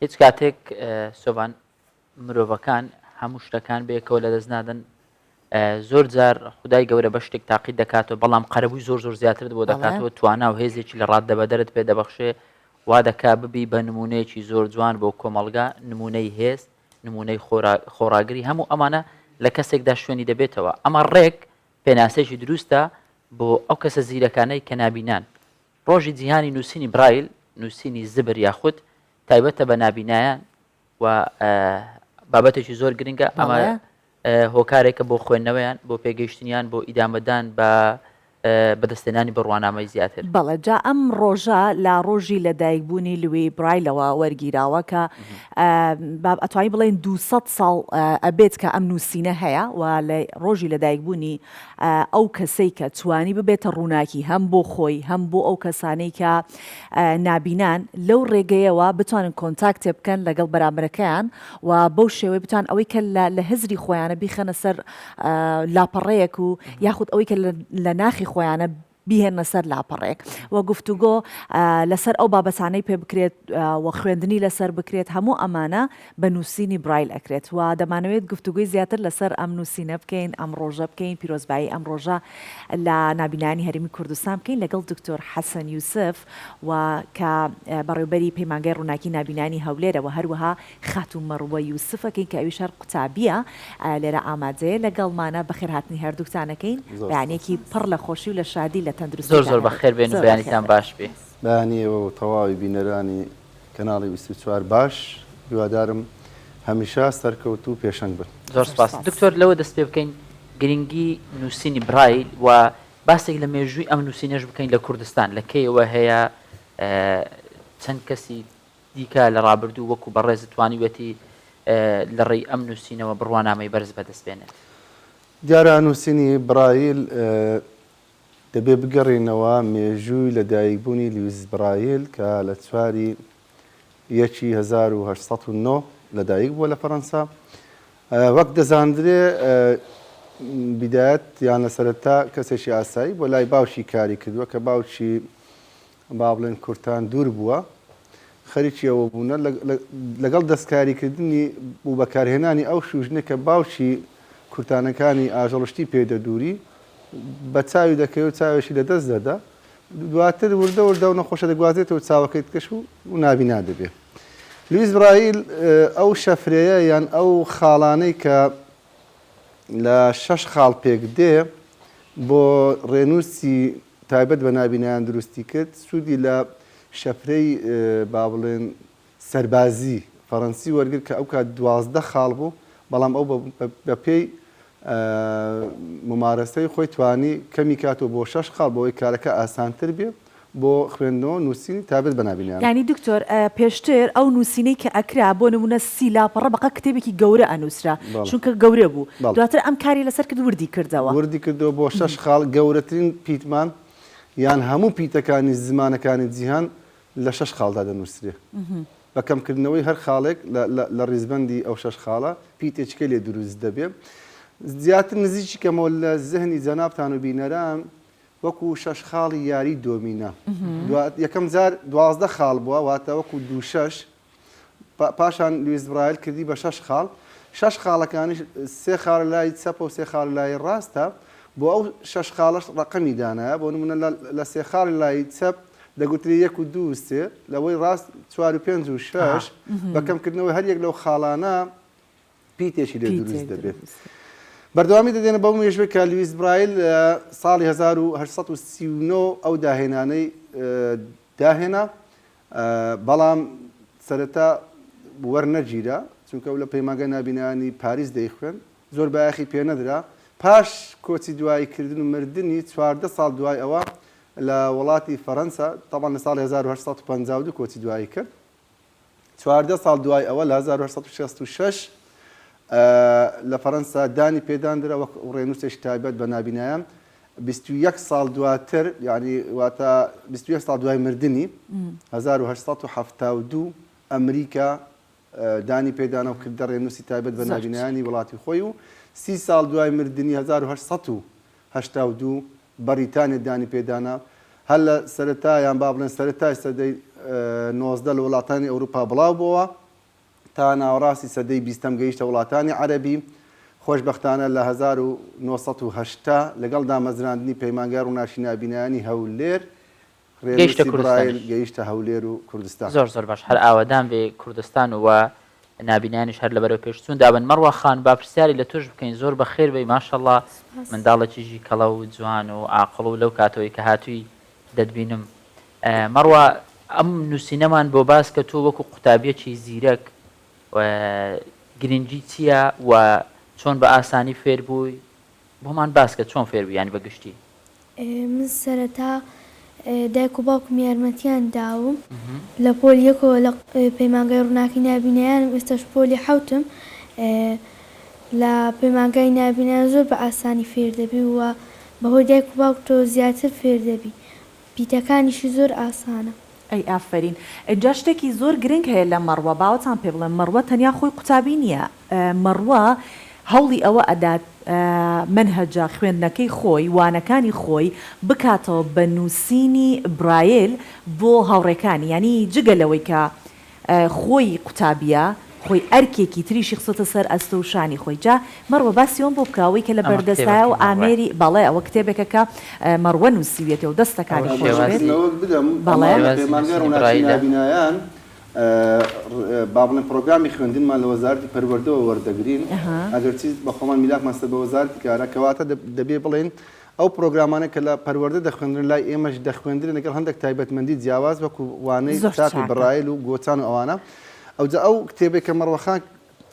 هیچ کاتێک سۆڤان مرۆڤەکان هەموو شتەکان بەیەکەوە لەدەست نادەن زۆر جار خدای گەورە بە شتێک تاقی دەکاتەوە بەڵام قەرەبووی زۆر زۆر زیاتر بۆ دەکاتەوە توانا و هێزێکی لە ڕاددە بەدەرت پێ دەبەخشێ وا دەکا ببی بە نمونەیەکی زۆر جوان بۆ کۆمەلگا نمونەی هێست نمونەی خۆراگری هەموو ئەمانە لە کەسێکدا شوێنی دەبێتەوە ئەمە ڕێک پێناسێکی دروستە بۆ ئەو کەسە زیرەکانەی کە نابینان ڕۆژی جیهانی نووسینی برایل، نووسینی زبر یاخود، تایبەتە بە نابینایان و بابەتێکی زۆر گرنگە، ئەمە هۆکارێکە بۆ خوێندنەوەیان، بۆ پێگەیشتنیان، بۆ ئیدامەدان بە بەدەستێنانی بڕوانامەی زیاتر. بەڵێ جا ئەم ڕۆژە لە ڕۆژی لەدایکبوونی لوی برایلەوە وەرگیراوە کە ئەتوانی بڵێن دوو سەد ساڵ ئەبێت کە ئەم نووسینە هەیە و لە ڕۆژی لەدایکبوونی ئەو کەسەی کە توانی ببێتە ڕووناکی هەم بۆ خۆی هەم بۆ ئەو کەسانەی کە نابینان لەو ڕێگەیەوە بتوانن کۆنتاکتێ بکەن لەگەڵ بەرامبەرەکەیان و بەو شێوەی بتوان ئەوەی کە لە هزری خۆیانە بیخەنە سەر لاپەڕەیەک و یاخود ئەوەی کە لە ناخی خۆیانە بیهێننە سەر لاپەڕەیەک و گفتوگۆ لەسەر ئەو بابەتانەی پێ بکرێت و خوێندنی لەسەر بکرێت، هەموو ئەمانە بە نووسینی برایل ئەکرێت و دەمانەوێت گفتوگۆی زیاتر لەسەر ئەم نووسینە بکەین، ئەم ڕۆژە بکەین، پیرۆزبایی ئەم ڕۆژە لە نابینایانی هەرێمی کوردستان بکەین لەگەڵ دکتۆر حەسەن یوسف و کە بەڕێوبەری پەیمانگای ڕووناکی نابینانی هەولێرە و هەروەها خاتوو مەڕوە یوسفەکەی کە ئەویش هەر قوتابییە لێرە ئامادەیە لەگەڵمانە، بەخێرهاتنی هەردووکتانەکەین، بەیانیەکی پڕ لە خۆشی و لە شادی لە تەندروستیتان هەبێت، زۆر زۆر بەخێر بێن و بەیانیتان باش بێ. بەیانی ئێوە و تەواوی بینەرانی کەناڵی بیست و چوار باش، هیوادارم هەمیشە سەرکەوتوو پێشەنگ بن. زۆر سپاس دکتۆر، لەوە دەست پێ بکەین گرنگی نووسینی برایل و باسێک لە مێژووی ئەم نووسینەش بکەین لە کوردستان لە کەیەوە هەیە چەند کەسی دیکە لە ڕابردوو وەکو بەڕێزت توانیویەتی لە ڕێی ئەم نووسینەوە بڕوانامەی بەرز بەدەست بێنێت؟ دیارە نووسینی برایل دەبێ بگەڕێینەوە مێژووی لە دایک بوونی لیویس برایل کە لە چواری یەکی هەزار و هەشت سەد و نۆ لە دایک بووە لە فەرەنسا وەک دەزاندرێ بدایەت یان لە سەرەتا کەسێکی ئاسایی بۆ لای باوکی کاری کردووە کە باوکی با بڵێن کورتان دوور بووە، خەریکی ئەوە بوونە لەگەڵ دەستکاریکردنی و بەکارهێنانی ئەو شووژنە کە باوکی کورتانەکانی ئاژەڵشتی پێ دەدووری، بە چاوی دەکەوێ و چاوێکی لە دەست دەدا. دواتر وردە وردە ئەو نەخۆشە دەگوازێتەوە چاوەکەی تکەش و نابینا دەبێ. لویس برایل ئەو شەفرەیە یان ئەو خاڵانەی کە لە شەش خاڵ پێک دێ بۆ ڕێنووسی تایبەت بە نابینایان دروستی کرد، سوودی لە شەپرەی با بڵێن سەربازی فەرەنسی وەرگرت کە ئەو کات دوازدە خاڵ بوو، بەڵام ئەو بە پێی مومارەسەی خۆی توانی کەمی کاتەوە بۆ شەش خاڵ بەوەی کارەکە ئاسانتر بێ بۆ خوێندنەوە نووسینی تایبەت بە نابینایان. یانی دکتۆر پێشتر ئەو نووسینەی کە ئەکرا بۆ نموونە سی لاپەڕە بەقە کتێبێکی گەورە ئەنووسرا چونکە گەورە بوو دواتر ئەم کاری لەسەر کرد وردی کردەوە. وردی کردەوە بۆ شەش خاڵ گەورەترین پیتمان یان هەموو پیتەکانی زمانەکانی جیهان لە شەش خاڵدا دەنووسرێ بە کەمکردنەوەی هەر خاڵێک لە ڕیزبەندی ئەو شەش خاڵە پیتێچکە لێ دروست دەبێ زیاتر نزیکی کەمەوە لە زهنی جەنابتان و بینەران وەکو شەش خاڵی یاری دۆمینە یەکەم جار دوازدە خاڵ بووە واتە وەکو دوو شەش پاشان لویس برایل کردی بە شەش خاڵ، شەش خاڵەکانیش سێ خاڵ لای چەپە و سێ خاڵ لای ڕاستە، بۆ ئەو شەش خاڵەش ڕەقەمی دانایە، بۆ نموونە لە سێ خاڵی لای چەپ دەگوترێ یەک و دوو و سێ، لەوەی ڕاست چوار و پێنج و شەش، بە کەمکردنەوەی هەر یەک لەو خاڵانە پیتێکی لێ دروست دەبێت. بەردەوامی دەدێنە بەو مێژووی کە لویس برایل ساڵی هەزار و هەشت سەد و سی و نۆ ئەو داهێنانەی داهێنا، بەڵام سەرەتا وەرنەگیرا، چونکە ئەو لە پەیمانگای نابینایانی پاریس دەیخوێند، زۆر بایەخی پێنەدرا، پاش کۆچی دوایی کردن و مردنی، چواردە ساڵ دوای ئەوە لە وڵاتی فەرەنسا، تەبعەن لە ساڵی هەزار و هەشت سەد و پەنجا و دوو کۆچی دوایی کرد، چواردە ساڵ دوای ئەوە لە هەزار و هەشت سەد و شەست و شەش لە فەرەنسا دانی پێداندرا وەک ڕێنووسێکی تایبەت بە نابینایان، بیست و یەک ساڵ دواتر یعنی واتە بیست و یەک ساڵ دوای مردنی هەزار و هەشت سەد و حەفتا و دوو ئەمریکا دانی پێدانە و کردە ڕێنووسی تایبەت بە نابینانی وڵاتی خۆی و سی ساڵ دوای مردنی هەزار و هەشت سەد و هەشتا و دوو بەڕیتانیا دانی پێدانە هەر لە سەرەتایان با بڵێن سەرەتای سەدەی نۆزدە لە وڵاتانی ئەوروپا بڵاو بووە تا ناوەڕاستی سەدەی بیستەم گەیشتە وڵاتانی عەرەبی، خۆشبەختانە لە هەزار و نۆ سەد و هەشتا لەگەڵ دامەزراندنی پەیمانگای ڕووناکی نابینایانی هەولێر، ڕێنووسی برایل گەیشتە هەولێر و کوردستان. زۆر زۆر باش، هەر ئاوەدان بێ کوردستان و نابینایانیش هەر لەبەرەو پێش چوون دابن. مەڕوا خان با پرسیاری لە تۆش بکەین، زۆر بەخێر بێی ماشەڵڵا منداڵێکی ژیکەڵە و جوان و ئاقڵ و لەو کاتەوەی کە هاتووی دەتبینم مەڕوا ئەم نوسینەمان بۆ باس کە تۆ وەکو قوتابیەکی زیرەک گرنگی چییە و چۆن بە ئاسانی فێر بووی بۆمان باسکە چۆن فێر بوویانی بە گشتی من سەرەتا دایک و باوکم یارمەتیان داوم لە پۆل یەکەوە لە پەیمانگای ڕووناکی نابینایانم ئێستاش پۆلی حەوتم لە پەیمانگای نابینایان زۆر بە ئاسانی فێر دەبی و بە هۆی دایک و باوکتەوە زیاتر فێر دەبی پیتەکانیشی زۆر ئاسانە. ئەی ئافەرین ئینجا شتێکی زۆر گرنگ هەیە لە مەڕوە باوەتان پێ بڵێم مەڕوە تەنیا خۆی قوتابی نیە مەڕوە هەوڵی ئەوە ئەدات مەنهەجە خوێندنەکەی خۆی وانەکانی خۆی بکاتەوە بە نوسینی برایل بۆ هاوڕێکانی یانی جگە لەوەی کە خۆی قوتابیە خۆی ئەرکێکی تریشی خستۆتە سەر ئەستۆ و شانی خۆی جا مەڕوە باسی ئەوەم بۆ بکە ئەوەی کە لە ئەمە کتێبە بەردەستایە و کیمیا ڕای ئامێری بەڵێ ئەوە کتێبێکە کە مەڕوە نوسیویەتی و ئەوە دەستەکانی ئەوەش خۆش بێت شێوازی ڕێزلەوەک بدەم بەڵێ ئەمان لە شێوازی پەیمانگای نووسینی ڕوناکی برایلە نابینایان بابڵێم پڕۆگرامی خوێندنمان لە وەزارەتی پەروەردەوە وەردەگرین ئەها. ئەگەرچی بەخۆمان میلاکمان سەر بە وەزارەتی کارە کەواتە دەبێ بڵێین ئەو پرۆگرامانە کە لە پەروەردە دەخوێندرێن لای ئێمەش دەخوێندرێن لەگەڵ هەندێک تایبەتمەندی جیاواز وەکو وانەی زۆر تاقی چاکە. برایل و گۆچان و ئەوانە ئەوجا ئەو کتێبەی کە مەڕوە خان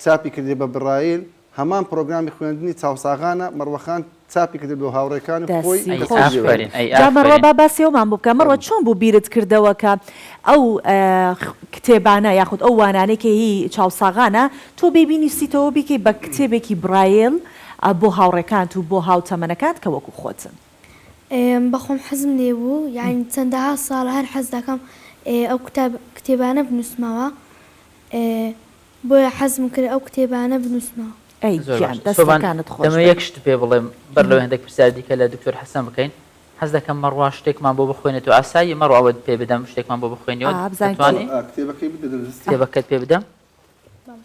چاپی کردیە بە برایل هەمان پرۆگرامی خوێندنی چاوساغانە مەڕوە خان چاپی کردیە بۆ هاوڕێکانی خۆی دەسی کە ئەی خۆش چاپی بێت ئافەرین ئەی جا مەڕوا ئافەرین با باسی ئەومان بۆ بکە مەڕوا چۆن بوو بیرت کردەوە کە ئەو کتێبانە یاخود ئەو وانانەی کە هی چاوساغانە تۆ بێی بینوسیتەوەو بیکەی بە کتێبێکی برایل ئە بۆ هاوڕێکانت و بۆ هاوتەمەنەکانت کە وەکو خۆتن. ئێم بەخۆم حەزم لێبوو یانی چەندەها ساڵە هەر حەز دەکەم ئێ ئەو کتاب کتێبانە بنووسمەوە ئێ بۆیە حەزم کرد ئەو کتێبانە بنووسمەوە. ئەی زۆر گیان باشە سۆڤان دەستەکانت خۆش دەمەوێ بێت. یەک شت پێ بڵێم بەر لەوەی هەندێک پرسیاری دیکە لە دکتۆر حەسەن بکەین حەز دەکەم مەڕوا شتێکمان بۆ بخوێنێتەوە ئاساییە مەڕوا ئەوەت پێ بدەم شتێکمان بۆ بخوێنیەوە ئا بزانین چی؟ ئەتوانی؟ ئا کتێبەکەی بدە دەست کتێبەکەت پێ بدەم؟ بەڵێ.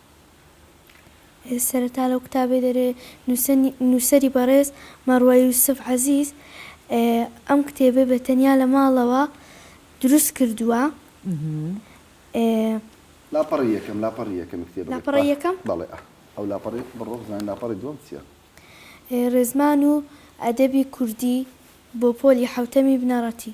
سەرەتا لەو کتابەی دەرێ نووسەری بەڕێز مەڕوە یوسف عەزیز ئەم کتێبەی بە تەنیا لە ماڵەوە دروست کردووە. لاپەڕەی یەکەم لاپەڕی یەکەمی کتێبەکە. لاپەڕەی یەکەم؟ بەڵێ ئا ئەو لاپەڕەی بڕۆ بزانە لاپەڕی دووەم چییە. ڕێزمان و ئەدەبی کوردی بۆ پۆلی حەوتەمی بنەڕەتی.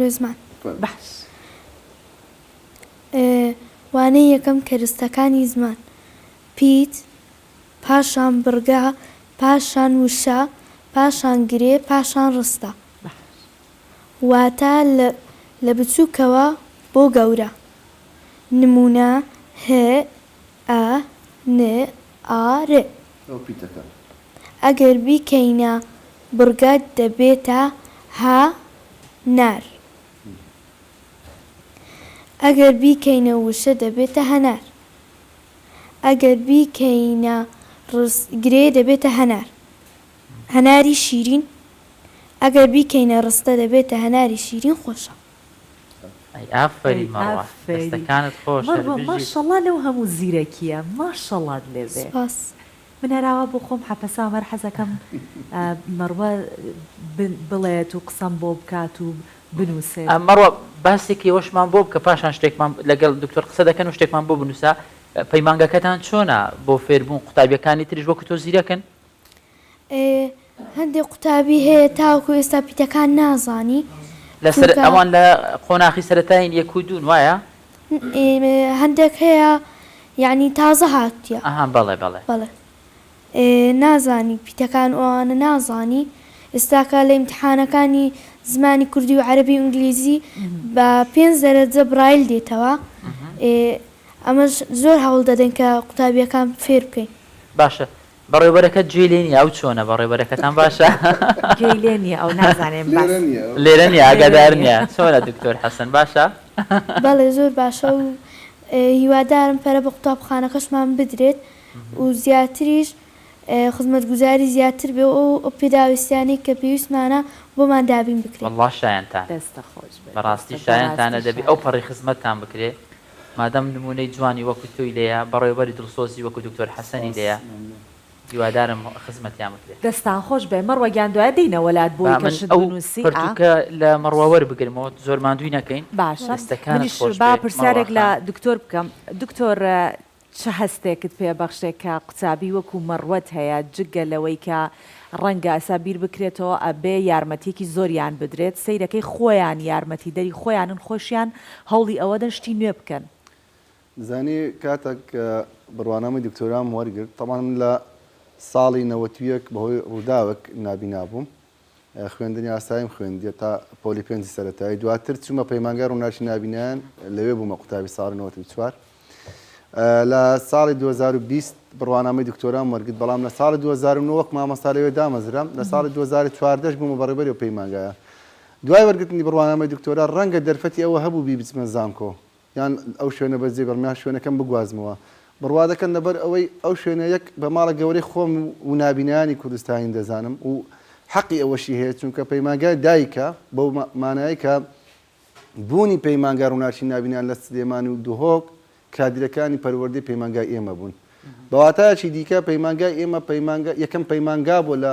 ڕێزمان باش. وانەی یەکەم کەرستەکانی زمان، پیت، پاشان بڕگە، پاشان وشە، پاشان گرێ، پاشان ڕستە. واتە لە بچووکەوە بۆ گەورە. نموونە، هه، ئە ن ئا ر. ئەو پیتەکە. ئەگەر بیکەینە بڕگە دەبێتە ه نار. ئەگەر بیکەینە وشە دەبێتە هەنار. ئەگەر بیکەینە ڕس گرێ دەبێتە هەنار. هەناری شیرین. ئەگەر بیکەینە ڕستە دەبێتە هەناری شیرین خۆشە. ئەی ئافەرین مەڕوا دەستەکانت خۆش هەر بژیت. مەڕوا ماشەڵا لەو هەموو زیرەکیە ماشەڵات لێ بێ. سپاس من هەراوا بۆ خۆم حەپەسام هەر حەزەکەم مەڕوا بڵێت و قسەم بۆ بکات و بنوسێت. مەڕوا باسێکی ئەوەشمان بۆ بکە پاشان شتێکمان لەگەڵ دکتۆر قسە دەکەن و شتێکمان بۆ بنوسە پەیمانگەکەتان چۆنە بۆ فێربوون قوتابیەکانی تریش وەکو تۆ زیرەکن؟ هەندێ قوتابی هەیە تاوەکو ئێستا پیتەکان نازانی. لەسەر ئەوان لە قۆناخی سەرەتاین یەک و دوون وایە؟ هەندێک هەیە یعنی تازە هاتووە. ئەها بەڵێ بەڵێ. بەڵێ نازانی پیتەکان ئەوانە نازانی ئێستاکە لە ئیمتحانەکانی زمانی کوردی و عەرەبی و ئینگلیزی بە پێنج دەرەجە برایل دێتەوە ئەمەش زۆر هەوڵ دەدەین کە قوتابیەکان فێر بکەین. باشە بەڕێوبەرەکەت گوێی لێ نیە ئەو چۆنە بەڕێوبەرەکەتان باشە. گوێی لێ نیە ئەو نازانێ بەس. لێرە نیە ئاگادار نیە چۆنە دکتۆر حەسەن باشە. بەڵێ زۆر باشە و هیوادارم پەرە بە قوتابخانەکەشمان بدرێت و زیاتریش خزمەتگوزاری زیاتر بێ و ئەو پێداویستیانەی کە پێویستمانە بۆمان دابین بکرێت. وەڵڵا شایەنتانە بەڕاستی شایەنتانە دەبێ ئەو پەڕی خزمەتتان بکرێ. مادام نمونەی جوانی وەکو تۆی لێیە بەڕێوبەری دڵسۆزی وەکو دکتۆر حەسەنی لێیە هیوادارم خزمەتیان بکرێ. دەستان خۆش بێ مەڕوە گیان دوایە دێینە وەلات بۆی کە شت بنوسی ئا. با من ئەو پەرتوکە لە مەڕوە وەربگرمەوە زۆر ماندوی نەکەین. باشە دەستەکانت منیش خۆش با بێ مەڕوا پرسیارێک لە خان. دکتۆر بکەم دکتۆر چ هەستێکت پێ بەخشێ کە قوتابی وەکو مەڕوەت هەیە جگە لەوەی کە ڕەنگە ئەسا بیر بکرێتەوە ئەبێ یارمەتیەکی زۆریان بدرێت سەیرەکەی خۆیان یارمەتی دەری خۆیانن خۆشیان هەوڵی ئەوەدەن شتی نوێ بکەن. زانی کاتەک بڕوانامەی دکتۆرام وەرگرت تەبعەن من لە ساڵی نەوەت و یەک بەهۆی ڕوداوەک نابینا بووم خوێندنی ئاساییم خوێندیە تا پۆلی پێنجی سەرەتایی دواتر چوومە پەیمانگە ڕووناکی نبینیان لەوێ بوومە قوتابی ساڵی 94 لە ساڵی 2020 بڕوانامەی دکتۆران وەرگت بەڵام لە ساڵی 2009 وەک مامەستا لەوێ دامەزرم لە ساڵی 2014 بوومە بەڕێبەری و پەیمانگایە دوای وەرگتنی بڕوانامەی دکتۆرا ڕەنگە دەرفەتی ئەوە هەبوو بی بچمە زانکۆ یان ئەو شوێنە بەس جێبێڵم یان شوێنەکەم بگوازمەوە بڕوادەکەن لەبەر ئەوەی ئەو شوێنە یەک بە ماڵە گەورەی خۆم و نابینایانی کوردستانین دەزانم و حەقی ئەوەشی هەیە چونکە پەیمانگای دایکە بەو مانایەی کە بوونی پەیمانگا ڕووناکی نابینان لە سلێمانی و دهۆک کادیرەکانی پەروەردەی پەیمانگای ئێمە بوون بەواتایەکی دیکە پەیمانگای ئێمە پەیمانگا یەکەم پەیمانگا بۆ لە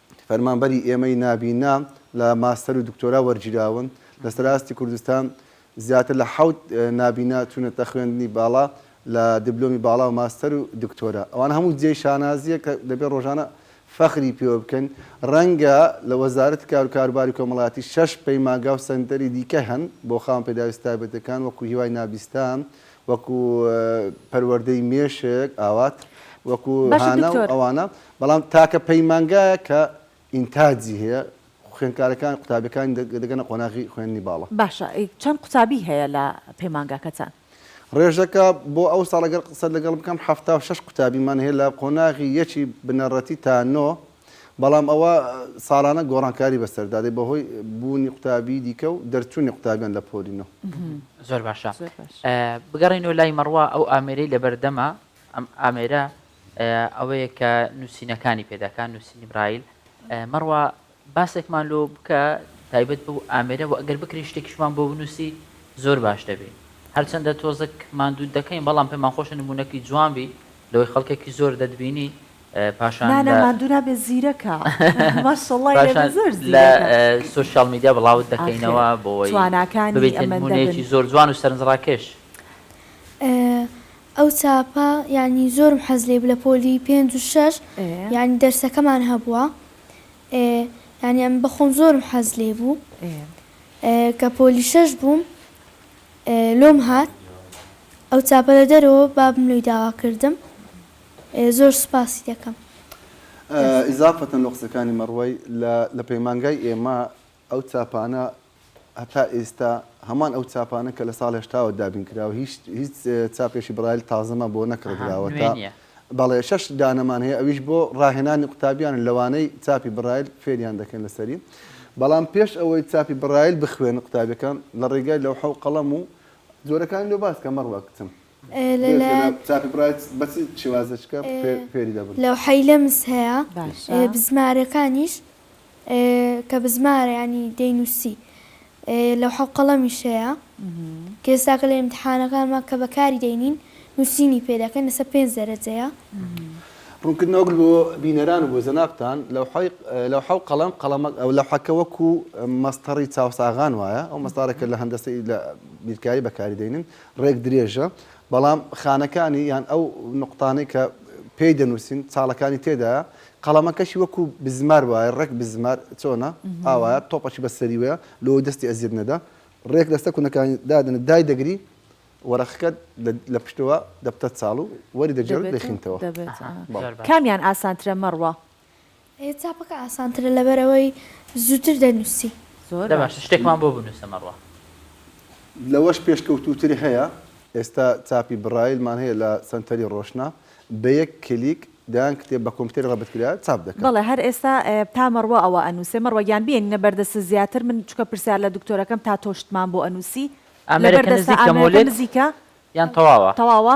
فەرمانبەری ئێمەی نابینا لە ماستەر و دکتۆرا وەرگیراون، لە سەر ئاستی کوردستان زیاتر لە حەوت نابینا چوونەتە خوێندنی باڵا لە دبلۆمی باڵا و ماستەر و دکتۆرا، ئەوان هەموو جێی شانازییە کە دەبێت ڕۆژانە فەخری پێوە بکەین، ڕەنگە لە وەزارەتی کار و کاروباری کۆمەڵایەتی شەش پەیمانگا و سەنتەری دیکە هەن بۆ خاوەن پێداویستە تایبەتەکان وەکو هیوای نابیستان، وەکو پەروەردەی مێشک ئاوات، وەکو هانا و ئەوانە. بەڵام تاکە پەیمانگایە کە ئینتاجی هەیە، خوێندکارەکان قوتابیەکانی دەگەنە قۆناغی خوێندنی باڵا. باشە چەند قوتابی هەیە لە پەیمانگاکەتان؟ ڕێژەکە بۆ ئەو ساڵ ئەگەر قسەت لەگەڵ بکەم حەفتا و شەش قوتابیمان هەیە لە قۆناغی یەکی بنەڕەتی تا نۆ، بەڵام ئەوە ساڵانە گۆڕانکاری بەسەردا دێت بەهۆی بوونی قوتابی دیکە و دەرچوونی قوتابیان لە پۆلی نۆ. زۆر باشە بگەڕێینەوە لای مەڕوا ئەو ئامێرەی لەبەردەمە ئەم ئامێرە ئەوەیە کە نووسینەکانی پێدەکا، نووسینی برایل. مەڕوا باسێکمان لۆ بکە تایبەت بەو ئامێرە و ئەگەر بکرێ شتێکیشمان بۆ بنووسی زۆر باش دەبێ. هەرچەندە تۆزەک ماندووت دەکەین بەڵام پێمان خۆشە نموونەکی جوان بی لەوەی خەڵکێکی زۆر دەتبینی پاشان نا نا ماندوو نابێ زیرەکە ماشەڵڵای لێ بێ زۆر زیرەکە پاشان لە سۆشیاڵ میدیا بڵاوت دەکەینەوە بۆ ئەوەی ببیتە نموونەیەکی زۆر جوان و سەرنجڕاکێش. ئەو چاپە یانی زۆرم حەز لێبوو لە پۆلی پێنج و شەش یانی دەرسەکەمان هەبووە یانی ئەم بەخۆم زۆرم حەز لێبوو کە پۆلی شەش بووم لۆم هات ئەو چاپە لە دەرەوە بابم لۆی داوا کردم زۆر سوپاسی دەکەم. ئیزافەتەن لۆ قسەکانی مەڕوەی لە پەیمانگای ئێمە ئەو چاپانە هەتا ئێستا هەمان ئەو چاپانە کە لە ساڵ هەشتاوە دابین کراوە هیچ هیچ چاپێکی برایل تازەمان بۆ نەکڕدراوە تا بەڵێ شەش دانەمان هەیە ئەویش بۆ ڕاهێنانی قوتابیان لەوانەی چاپی برایل فێریان دەکەن لەسەری بەڵام پێش ئەوەی چاپی برایل بخوێنە قوتابەکان لە ڕێگای لەوحە و قەڵەم و جۆرەکانی لۆ باسکە مەڕوا کچم لەلایەن لەوحەی لەمس هەیە باشە. بزمارەکانیش کە بزمارە یانی دەینووسی لەوحە و قەڵەمیش هەیە کە ئێستاکە لە ئیمتحانەکانمان کە بەکاری دەینین نووسینی پێ دەکەن لەسەر پێنج دەرەجەیە. ڕوونکردنەوەک بۆ بینەران و بۆ جەنابتان، لەوحەی لەوحە و قەڵەم قەڵەمە لەوحەکە وەکوو مەسطەڕی چاوساغان وایە ئەو مەسطارە کە لە هەندەسەی لە بیرکاری بەکاری دەینن ڕێک درێژە بەڵام خانەکانی یان ئەو نوقتانەی کە پێی دەنووسین چاڵەکانی تێدایە قەڵەمەکەشی وەکو بزمار وایە ڕێک بزمار چۆنە ئاوایە تۆپەشی بە سەری وەیە لۆ دەستی ئەزیت نەدا ڕێک لەسەر کونەکانی دادن دای دەگری وەرەخەکە لە پشتەوە دەبتە چاڵ و وەری دەگێڕ دەخینتەوە کامیان ئاسانترە مەڕوە؟ چاپەکە ئاسانترە لەبەرئەوەی زووتر دەنووسی. زۆر باشە شتێکمان بۆ بنووسە مەڕوا. لەوەش پێشکەوتووتری هەیە. ئێستا چاپی برایلمان هەیە لە سەنتەری ڕۆشنا، بە یەک کلیک دەیان کتێب بە کۆمپیوتەری ڕەبت کراە چاپ دەکەن. بەڵێ هەر ئێستا تا مەڕوا ئەوە ئەنووسێ. مەڕوا گیان بێنینە بەردەستت زیاتر من چونکە پرسیار لە دکتۆرەکەم تا تۆ شتمان بۆ ئەنووسی. ئامێرەکە نزیکە مۆلێت یان تەواوە؟ تەواوە.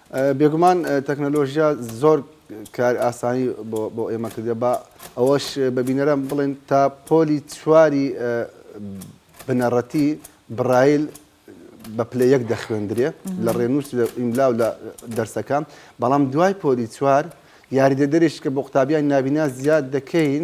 بێگومان تەکنەلۆژیا زۆر کار ئاسانی بۆ ئێمە کردە با ئەوەش بە بینەران بڵێن تا پۆلی چواری بنەڕەتی بڕایل بە پلە یەک دەخوێندرێ لە ڕێنووس لە ئیملاو لە دەرسەکە بەڵام دوای پۆلی چوار یاریدەدەرێش کە بۆ قوتابیان نابینا زیاد دەکەین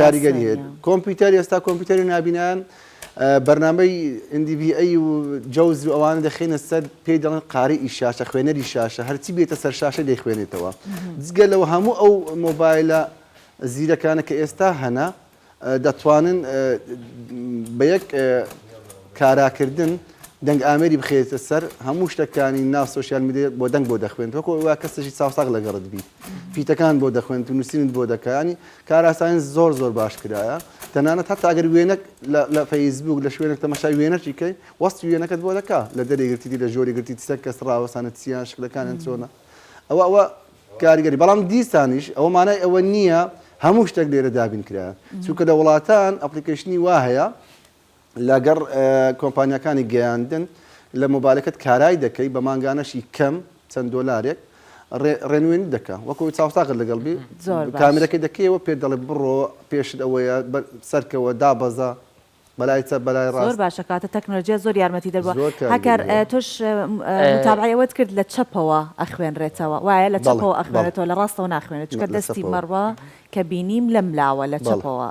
کاریگەری هەیە کۆمپیوتەر ئێستا کۆمپیوتەری نابینان بەرنمەی ئەندیبی ئەی و جەوز و ئەوانە دەخینە سەر پێی دەڵێن قاری ئی شاشە خوێنەری شاشە هەرچی بێتە سەر شاشە دەیخوێنێتەوە جگە لەوە هەموو ئەو مۆبایلە زیرەکانە کە ئێستا هەنا دەتوانن بە یەک کاراکردن دەنگ ئامری بخێتە سەر هەموو شتەکانی ناو سوسیال میدیێت بۆ دەنگ بۆ دەخوێنەوە کۆ وا کەسێکی چاوساق لەگەڕت بیت فیتەکان بۆ دەخوێنێت و نووسینت بۆ دەکات ینی کاراسانی زۆر زۆر باش کرایە تەنانەت هەتا ئەگەر وێنەک لە فەیسبوک لە شوێنێک تەمەشای وێنەکی کەی وەستی وێنەکەت بۆ دەکا لە دەرێ گرتیدی لە ژۆری گرتی سەر کەس ڕاوەسانە چیان شکلەکانیان چۆنە ئەوە ئەوە کاریگەری بەڵام دیسانیش ئەوە مانای ئەوە نییە هەموو شتێک لێرە دابین کرایە چونکە لە وڵاتان ئەپلیکیشنی وا هەیە لەگەڕ کۆمپانیاکانی گەیاندن لە مۆبایلەکەت کارای دەکەی بە مانگانەشی کەم چەند دۆلارێک ڕێنوێنی دەکە وەکو چاوساغت لەگەڵ بی کامرەکە دەکەیەوە پێ دەڵێ بڕۆ پێشت ئەوەیە سەرکەوە دابەزە بەلای چە بەلای ڕاست باشە کاتە تەکنۆلژیا زۆر یارمەتی دەبووە هەکار تۆش متابعەوەت کرد لە چەپەوە ئەخوێنرێتەوە وایە لە چەپەوە ئەخوێنێتەوە لە ڕاستەوە ناخوێنێت چکە دەستی مەڕوە کە بینیم لەم لاوە لە چەپەوە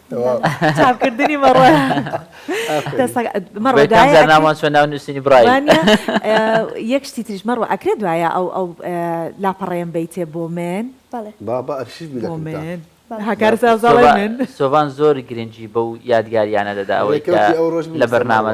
چاپکردنی مەڕۆ مەڕۆ ناوان چۆن ناو نووسینی بڕای یەک شتی تریش مەڕۆ ئەکرێت دوایە ئەو ئەو لاپەڕێن بیتێ بۆ من بابا ئەرشیف سۆڤان زۆر گرنگی بەو یادگاریانە دەدا ئەوەی لە بەرنامە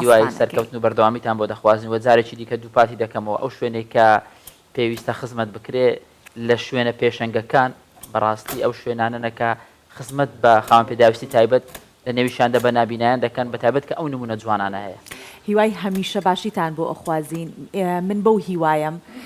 هیوای سەرکەوتن و بەردەوامیتان بۆ دەخوازین و جارێکی دیکە دووپاتی دەکەمەوە ئەو شوێنەی کە پێویستە خزمەت بکرێ لە شوێنە پێشەنگەکان بەڕاستی ئەو شوێنانەنە کە خزمەت بە خاوەن پێداویستی تایبەت لە نێویشیاندا بە نابینایان دەکەن بە تایبەت کە ئەو نموونە جوانانە هەیە. هیوای هەمیشە باشیتان بۆ ئەخوازین من بەو هیوایەم.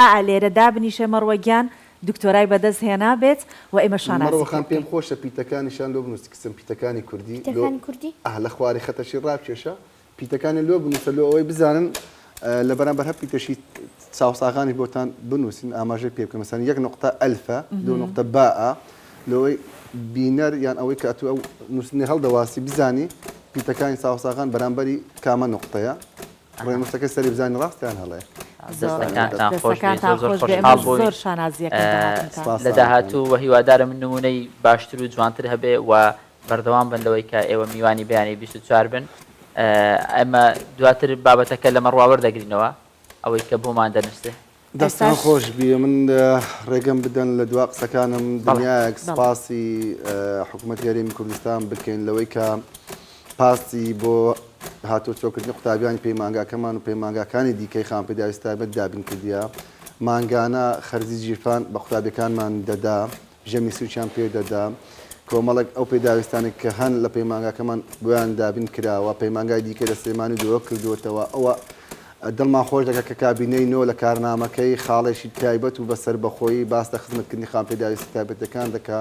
ئائا لێرە دابنیشە مەڕوە گیان دکتۆرای بەدەست هێنا بێت و ئێمە شانازی مەڕوە پێ خان پێم بکەین. خۆشە پیتەکانیشان لۆ بنووسی کچم پیتەکانی کوردی لۆ پیتەکانی کوردی؟ ئا لە خواری خەتەشی ڕاکێشە پیتەکانیان لۆ بنووسە لۆ ئەوەی بزانن لە بەرامبەر هەر پیتەشی چاوساغانیش بۆتان بنووسین ئاماژەی پێ بکەن مەسەلەن یەک نوقتە ئەلفە دوو نوقتە باءە لۆ ئەوەی بینەر یان ئەوەی کە ئەتوو ئەو نووسینەی هەڵدەواسی بزانی پیتەکانی چاوساغان بەرامبەری کامە نوقتەیە. بڕێ مستەکەی سەری بزانین ڕاست یان هەڵەیە دەستەکانتان خۆش بێت، زۆر زۆر خۆشحاڵ بووین. زۆر شانازییەکەم بە هاتنتان. سوپاس لە سامان خان. داهاتوو و هیوادارم نموونەی باشتر و جوانتر هەبێ و بەردەوام بن لەوەی کە ئێوە میوانی بەیانی بیست و چوار بن. ئێمە دواتر بابەتەکە لەمەڕوا وەردەگرینەوە ئەوەی کە بۆمان دەنووسێ. دەستان خۆش بی من ڕێگەم بدەن لە دوا قسەکانم دنیایەک سپاسی حکوومەت یاریمی کوردستان بکەین لەوەی کە پاستی بۆ هاتۆ چۆکردنی قوتابیانی پەیمانگاکەمان و پەیمانگاکانی دیکەی خان پێداویستابەت دابین کردە مانگانە خەرزی جیرفان بە قوتابەکانمان دەدا ژەمی سووکیان پێ دەدا. کۆمەڵێک ئەو پێداویستانە کە هەن لە پەیمانگاکەمان بۆیان دابین کراوە، پەیمانگای دیکەی لە سلێمانی دۆ کردووەتەوە، ئەوە دڵمان خۆش دەکات کە کابینەی نۆ لە کارنامەکەی خاڵێکی تایبەت و بە سەربەخۆیی باس لە خزمەتکردنی خاوەن پێداویستیە تایبەتەکان دەکا.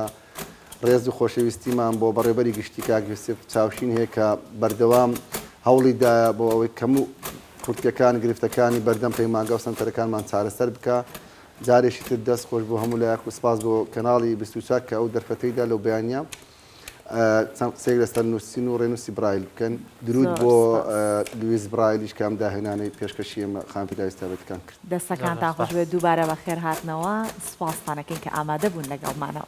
ڕێز و خۆشەویستیمان بۆ بەڕێوبەری گشتی کاک یوسف چاوشین هەیە کە بەردەوام هەوڵی دایە بۆ ئەوەی کەم و کورتیەکان گرفتەکانی بەردەم پەیمانگا و سەنتەرەکانمان چارەسەر بکا. جارێکی تر دەست خۆش بۆ هەموو لایەک و سپاس بۆ کەناڵی بیست و چوار کە ئەو دەرفەتەی دا لەو بەیانییە چەند قسەیەک لەسەر نووسین و ڕێنووسی برایل بکەن درود بۆ لویس برایلیش کە ئەم داهێنانەی پێشکەشی ئێمە خان ڤیدای ستاڤێتەکان کرد. دەستەکانتان خۆش بێت دووبارە بەخێرهاتنەوە، سوپاستان ئەکەین کە ئامادە بوون لەگەڵمانەوە.